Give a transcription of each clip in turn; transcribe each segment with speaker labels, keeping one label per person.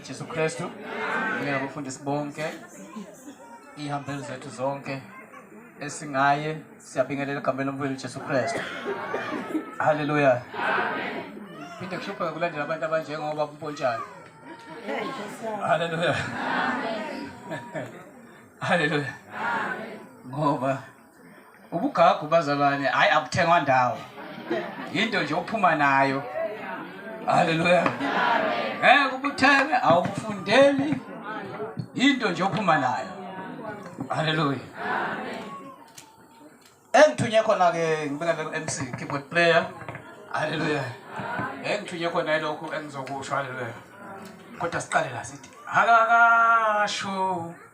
Speaker 1: Jesu Kristu uye abafundisi bonke iy'hambeli zethu zonke esingaye siyabingelela egameni lomfowethu Jesu Kristu haleluya phinde kuhlupheka kulandela abantu abanjengoba kumpontshana haleluya haleluya ngoba ubugagu bazalwane hayi abuthengwa ndawo yinto nje ophuma nayo haleluya ngeke ubuthenge awubufundeli yinto nje ophuma nayo haleluya engithunye khona-ke ngibekele ku-mc keyboard player haleluya engithunye khona ilokhu engizokusho haleluya kodwa siqale la sithi akakasho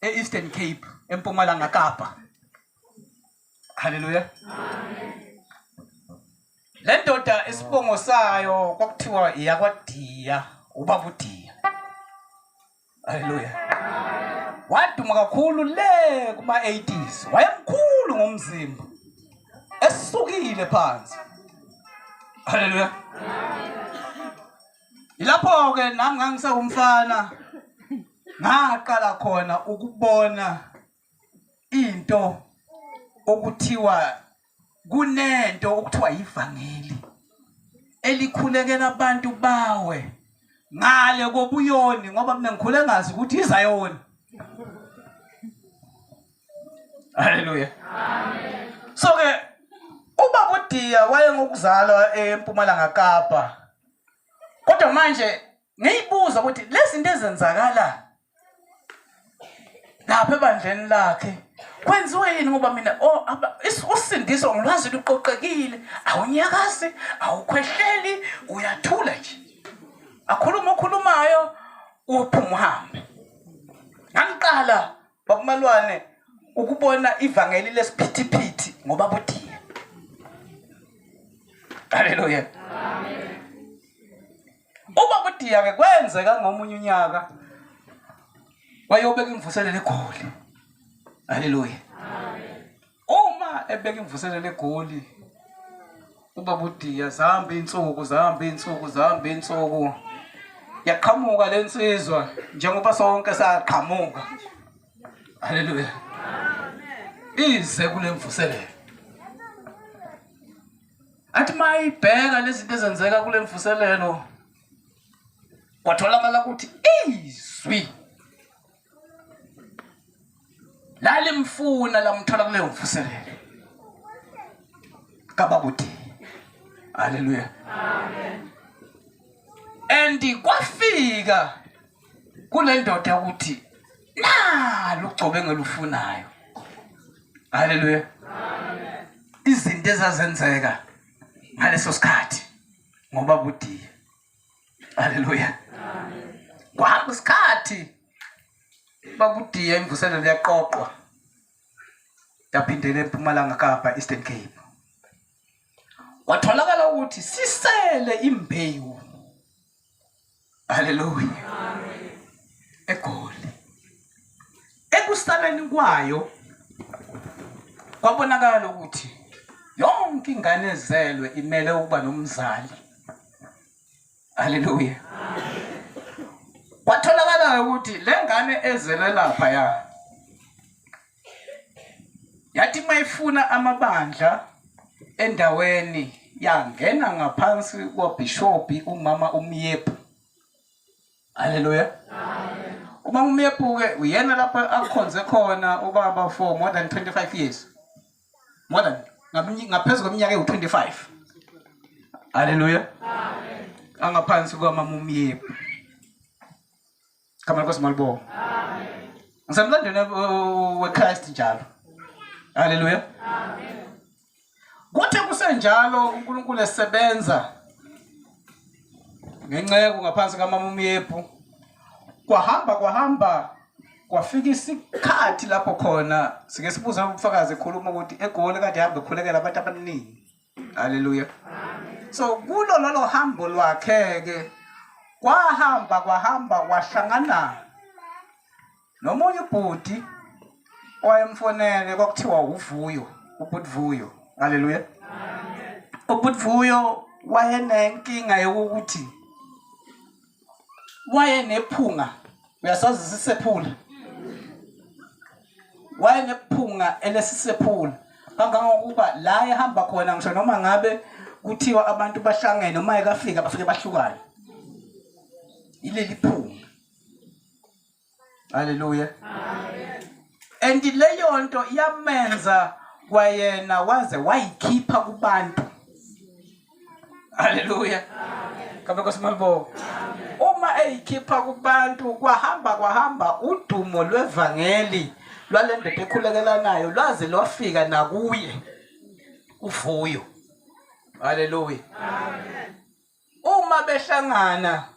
Speaker 1: e-Eastern Cape eMpumalanga Kapa Haleluya Amen Le ndoda isibongo sayo kwakuthiwa iyakwadiya ubaba udiya Haleluya Waduma kakhulu le kuma 80s wayemkhulu ngomzimba esukile phansi Haleluya Amen Yilapho-ke nami ngangisewumfana ngaqala khona ukubona into okuthiwa kunento okuthiwa yivangeli elikhulekela abantu bawe ngale kobuyoni ngoba mina ngikhule ngazi ukuthi izayona haleluya amen so ke ubaba udiya wayengokuzalwa empumalanga kapa kodwa manje ngiyibuza ukuthi lezinto ezenzakala lapha ebandleni lakhe kwenziwe yini ngoba mina oh, usindiso ngilwazi luqoqekile awunyakazi awukhwehleli uyathula nje akhuluma okhulumayo uphuma uhambe ngangiqala Bakumalwane ukubona ivangeli lesiphithiphithi ngoba buthiye. Haleluya. Amen. Uma kudiya ke kwenzeka ngomunye unyaka wayobeka imvuselelo egoli. Haleluya. Amen. Uma ebeka imvuselelo egoli ubaba uDiya zihamba iy'nsuku zihamba iy'nsuku zihamba iy'nsuku yaqhamuka le nsizwa njengoba sonke saqhamuka haleluya ize kule mvuselelo athi uma ibheka lezinto ezenzeka kule mvuselelo kwatholakala ukuthi izwi lalimfuna lamthola kuleyo mvuselelo kabakuthi haleluya amen and kwafika kule ndoda ukuthi nalo ugcobe ngelufunayo haleluya izinto ezazenzeka ngaleso sikhathi ngoba budiya Haleluya. Kwahamba isikhathi bakudiya imvuselelo yaqoqwa yaphindela eMpumalanga Kapa Eastern Cape. Kwatholakala ukuthi sisele imbewu. Haleluya. Amen. Egoli. ekusaleni kwayo kwabonakala ukuthi yonke ingane ezelwe imele ukuba nomzali haleluya kwatholakala ukuthi le ngane ezelwe lapha ya yathi mayifuna amabandla endaweni yangena ngaphansi kwabhishobhi umama umyepu Hallelujah. Amen. Uma umebuke uyena lapha akhonze khona ubaba for more than 25 years. More than ngaphezulu kweminyaka ewu-25. Hallelujah. Amen. Angaphansi kwamamumyebu. Kama Nkosi malibonga. Amen. Ngisemlandweni weChrist njalo. Hallelujah. Amen. Kuthe kusenjalo uNkulunkulu esebenza ngenceku ngaphansi kamama umyephu kwahamba kwahamba kwafika isikhathi lapho khona sike sibuza ubufakazi ekhuluma ukuthi egoli kade hambe khulekela abantu abaningi haleluya so kulo lolo hambo lwakhe-ke kwahamba kwahamba wahlangana nomunye ubhuti owayemfonele kwakuthiwa uvuyo ubhuti vuyo haleluya ubhuti vuyo wayenenkinga yokuthi wayenephunga uyasazi sisephula wayenephunga elesisephula kangangokuba la ehamba khona ngisho noma ngabe kuthiwa abantu bahlangene uma ekafika bafike bahlukane ileli phunga Haleluya. Amen. And leyo nto yamenza kwayena waze wayikhipha kubantu. Haleluya. Amen. Kabe kosimalibo. Amen. Uma eyikhipha kubantu kwahamba kwahamba udumo lwevangeli lwale ndoda ekhulekelanayo lwaze lwafika nakuye uvuyo. Haleluya. Amen. uma behlangana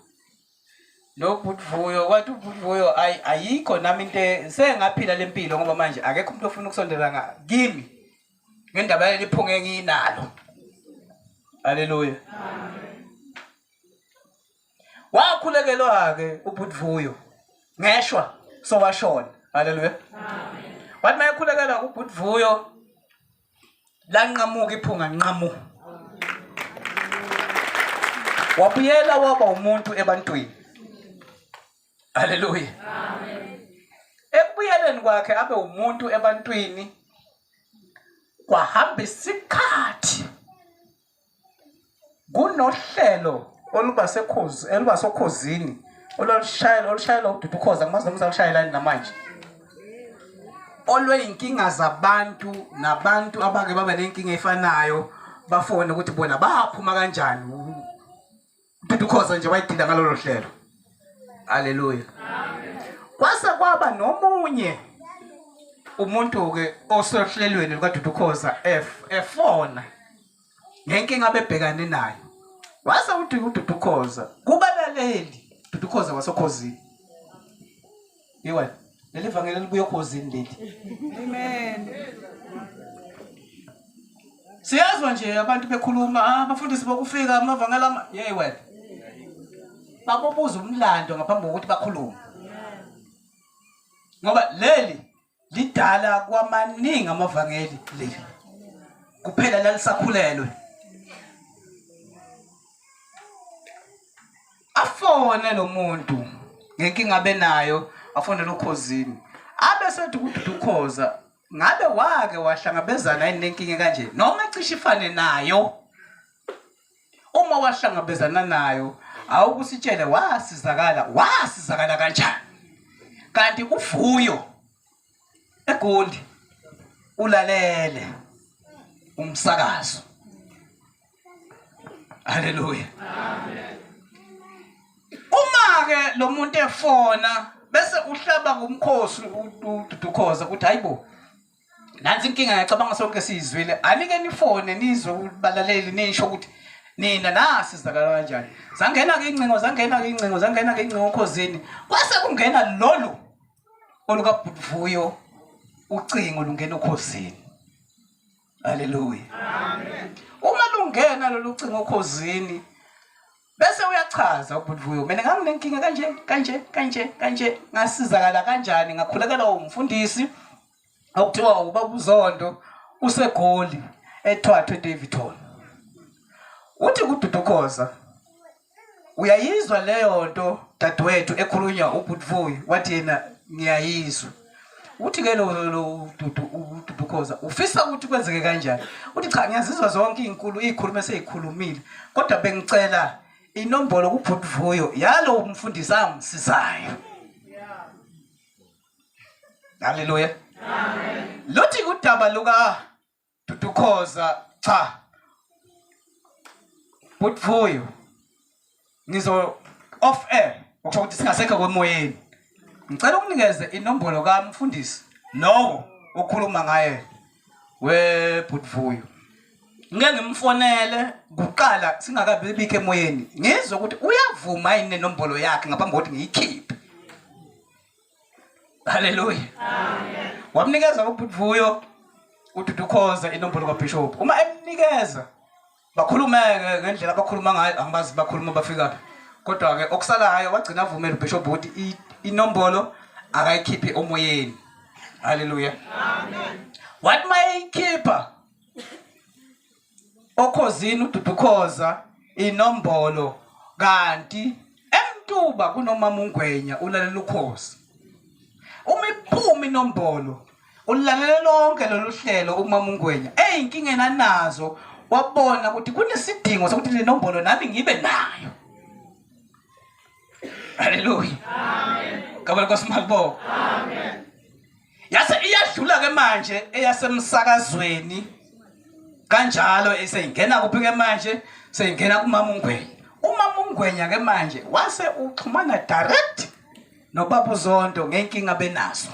Speaker 1: nobhuti vuyo kwathi ubhuti vuyo ayi ayikho nami into e- sengaphila le mpilo ngoba manje akekho umuntu ofuna ukusondela nga- kimi ngendaba yaleli phunga enginalo haleluya wakhulekelwa-ke ubhuti vuyo ngeshwa sowashona haleluya wathi mayekhulekelwa ubhuti vuyo lanqamuka iphunga nqamu wabuyela waba umuntu ebantwini haleluya ekubuyeleni kwakhe abe umuntu ebantwini kwahamba isikhathi kunohlelo oluba sekhozi oluba sokhozini olushayela olushayela ududu khoza ngimazi nomza ushayelani namanje olweyinkinga zabantu nabantu abake baba nenkinga efanayo bafone ukuthi bona baphuma kanjani Mthetho ukhoza nje wayidinda ngalolo hlelo. Haleluya. Kwase kwaba nomunye umuntu ke osohlelweni lukaDudukhoza F efona ngenkinga abebhekane nayo. Wase uthi uDudukhoza kubalaleli Dudukhoza wasokhozini. Iwe, leli vangeli libuye okhozini leli. Amen. Siyazwa nje abantu bekhuluma, ah bafundisi bokufika amavangela ama yey wena. Babobuza umlando ngaphambi kokuthi bakhulume. Ngoba leli lidala kwamaningi amavangeli leli kuphela lalisakhulelwe afone lo muntu ngenkinga benayo afonele ukhozini abe sethi kududu ukhoza ngabe wake wahlangabezana yini nenkinga kanje noma ecishe ifane nayo uma wahlangabezana nayo awukusitshele wasizakala wasizakala kanjani kanti uvuyo egundi ulalele umsakazo haleluya amen uma ke lo muntu efona bese uhlaba ngumkhosi ududukhoza ukuthi hayibo nansi inkinga ngiyacabanga sonke siyizwile anike nifone nizwe balaleli nisho ukuthi nina nasi sizakala kanjani zangena-ke iy'ncingo zangena-ke iy'ncingo zangena-ke iy'ncingo okhozini kwase kungena lolu olukabhutvuyo ucingo lungena okhozini haleluya uma lungena lolu cingo okhozini bese uyachaza ubudvuyo mina nganginenkinga kanje kanje kanje kanje ngasizakala kanjani ngakhulekela umfundisi okuthiwa ubaba uzondo usegoli ethwathwe davidton uthi kududukhoza uyayizwa leyo nto dadewethu ekhulunywa ubudvuyo wathi yena ngiyayizwa uthi ke lo lo dudu ududu khoza ufisa ukuthi kwenzeke kanjani uthi cha ngiyazizwa zonke izinkulu izikhuluma sezikhulumile kodwa bengicela inombolo kubhuti vuyo yalo umfundisi angisizayo haleluya lothi udaba luka Dudu Khoza cha. Butfuyo. Ngizo off air okusho ukuthi singasekho kwemoyeni. Ngicela ukunikeze inombolo kamfundisi lowo okhuluma ngaye we Butfuyo. Ngeke ngimfonele kuqala singakabi bikho emoyeni. Ngizwe ukuthi uyavuma yini nenombolo yakhe ngaphambi kokuthi ngiyikhiphe. Haleluya. Amen. Wamnikeza ubutvuyo ududukhoza inombolo kaBishop. Uma emnikeza bakhulumeke ngendlela abakhuluma ngayo angibazi bakhuluma bafika phi. Kodwa ke okusalayo wagcina avumela uBishop ukuthi inombolo akayikhiphi omoyeni. Haleluya. Amen. Wathi mayikhipha okhozini ududukhoza inombolo kanti emtuba kunomama ungwenya ulalela ukhozi uma iphuma inombolo ulalela lonke lolu hlelo umama ungwenya eyinkinga enanazo wabona ukuthi kunesidingo sokuthi le nombolo nami ngibe nayo haleluya ngabona kwasimalibo yase iyadlula ke manje eyasemsakazweni kanjalo eseyingena kuphi ke manje seyingena kumama ungwenya umama ungwenya ke manje wase uxhumana direct nobaba uzondo ngenkinga benazo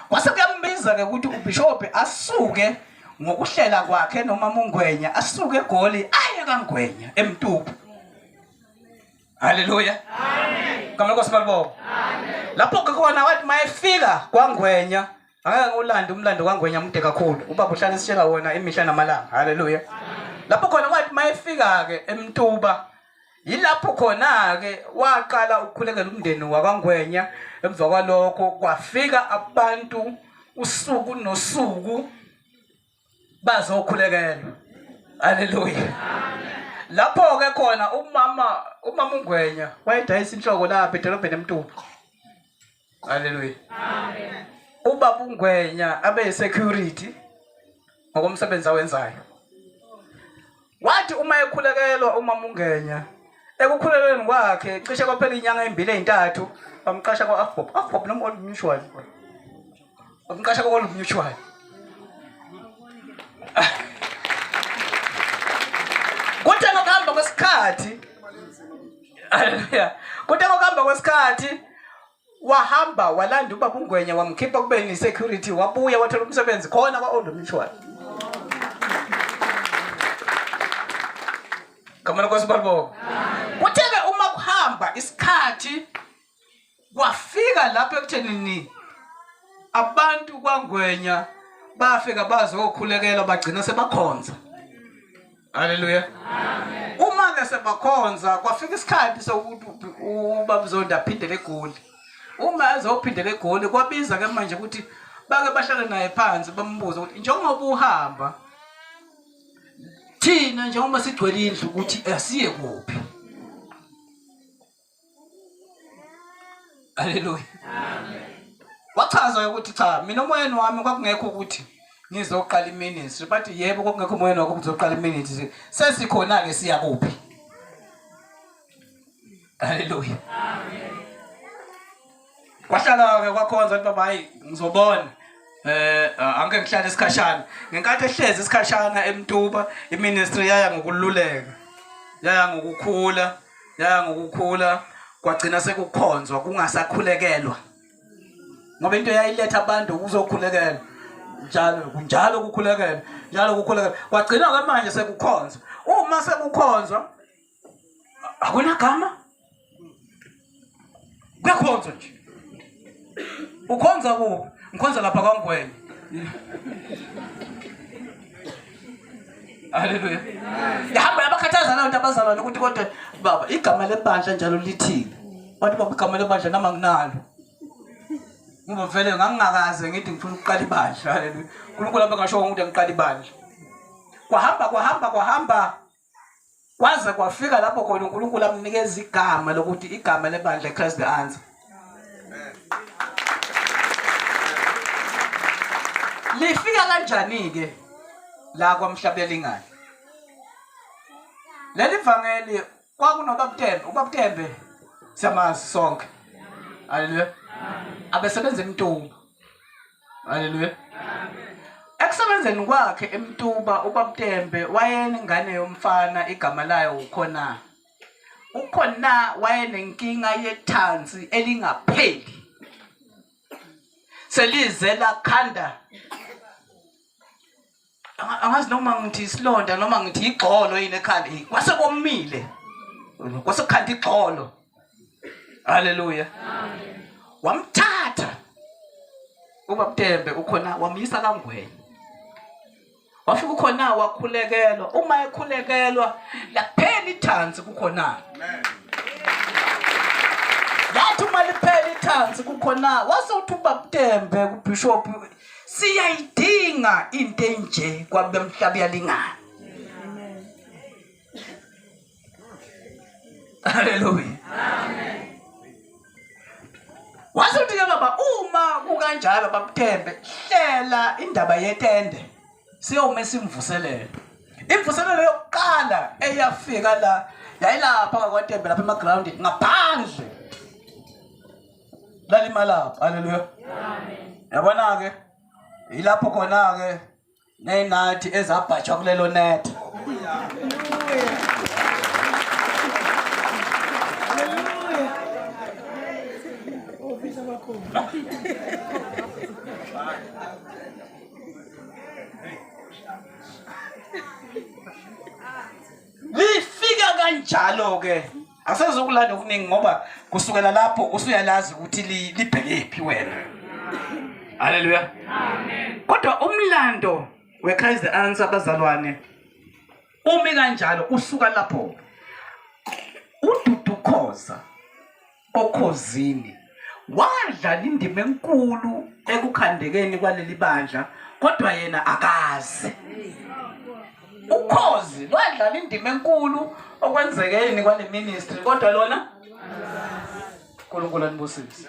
Speaker 1: kwase kuyambiza ke ukuthi ubishophi asuke ngokuhlela kwakhe nomama ungwenya asuke egoli aye kangwenya emtupu haleluya kamele nkosi balibonga lapho ke khona wathi mayefika kwangwenya angeke ngiwulande umlando kwangwenya mude kakhulu ubaba uhlale esitshela wona imihla namalanga haleluya lapho khona wathi mayefika-ke emtuba yilapho khona-ke waqala ukukhulekela umndeni wakwangwenya emva kwalokho kwafika abantu usuku nosuku bazokhulekelwa haleluya lapho ke khona umama umama ungwenya wayedayisa inhloko lapha edolobheni emtuba haleluya ubaba ungwenya abe security ngokomsebenzi awenzayo Wathi uma ekhulekelwa uMamungenya ekukhulelweni kwakhe cishe kwaphela inyanga ezimbili ezintathu bamqasha kwa-afbob afbob noma old mutual bamqasha kwa-old mutual kuthe ngokuhamba kwesikhathi haleluya kuthe ngokuhamba kwesikhathi wahamba walanda ubaba ungwenya wamkhipha kube ni security wabuya wathola umsebenzi khona kwa old mutual Kamana kwa sibalbo kuthebe uma kuhamba isikhathi kwafika lapho ekutheni ni abantu kwangwenya bafika bazokhulekela bagcina sebakhonza Haleluya. Amen. Uma ke sebakhonza kwafika isikhathi sokuthi ubabuzonda aphindele egoli. Uma ezophindela egoli kwabiza ke manje ukuthi bake bahlale naye phansi bambuze ukuthi njengoba uhamba thina njengoba sigcwele indlu ukuthi asiye kuphi. Haleluya. Wachaza ukuthi cha mina umoyeni wami kwakungekho ukuthi ngizoqala iministry but yebo kwakungekho umoyeni wakho uzoqala iministry sesikhona ke siya kuphi. Haleluya. Amen. Wahlala-ke kwakhonza ukuthi baba hayi ngizobona eh angeke ngihlale isikhashana ngenkathi ehlezi isikhashana emtuba iministry yaya ngokululeka yaya ngokukhula yaya ngokukhula kwagcina sekukhonzwa kungasakhulekelwa ngoba into yayiletha abantu ukuzokhulekelwa njalo kunjalo kukhulekelwa njalo kukhulekelwa kwagcina ke manje sekukhonzwa uma sekukhonzwa akunagama kuyakhonzwa nje ukhonza kuphi ngikhonza lapha kwangwenye haleluya yahamba yabakhathaza nayo nto abazalwane ukuthi kodwa baba igama lebandla njalo lithini bantu baba igama lebandla nama nginalo ngoba vele ngangingakaze ngithi ngifuna ukuqala ibandla haleluya unkulunkulu abe ngasho ukuthi ngiqala ibandla kwahamba kwahamba kwahamba kwaze kwafika lapho khona uNkulunkulu amnikeza igama lokuthi igama lebandla iChrist the Answer lifika kanjani ke la kwamhlabelingane leli vangeli kwakunobabtembe ubabtembe siyamazi sonke haleluya abesebenza emntungu Haleluya. Ekusebenzeni kwakhe eMtuba uBabTembe wayenengane yomfana igama layo uKhona. UKhona wayenenkinga yethansi elingapheli. Selize lakhanda angazi noma ngithi isilonda noma ngithi igxolo yini ekhanda kwase komile kwase kukhanda igxolo haleluya wamthatha ubabtembe ukhona wamyisa kangwenya wafika ukhona wakhulekelwa uma ekhulekelwa laphela ithansi kukhona yathi uma liphela ithansi kukhona wase uthi ubabtembe kubishop siyayidinga into enje kwabe mhlaba yalingana haleluya wathi uthi ke baba uma kukanjalo babuthembe hlela indaba yetende siyome simvuselele imvuselelo yokuqala eyafika la yayilapha kwatembe lapha emagroundini ngaphandle lalimalapha haleluya yabona-ke yilapho khona-ke ney'nathi ezabhajwa kulelo netha lifika kanjalo-ke asezokulanda okuningi ngoba kusukela lapho usuyalazi ukuthi libhekephi wena haleluya kodwa umlando we-christ the answer abazalwane umi kanjalo usuka lapho ududukhoza okhozini wadlala indima enkulu ekukhandekeni kwaleli bandla kodwa yena akazi ukhozi lwadlala indima enkulu okwenzekeni kwale ministry kodwa lona uNkulunkulu anibusise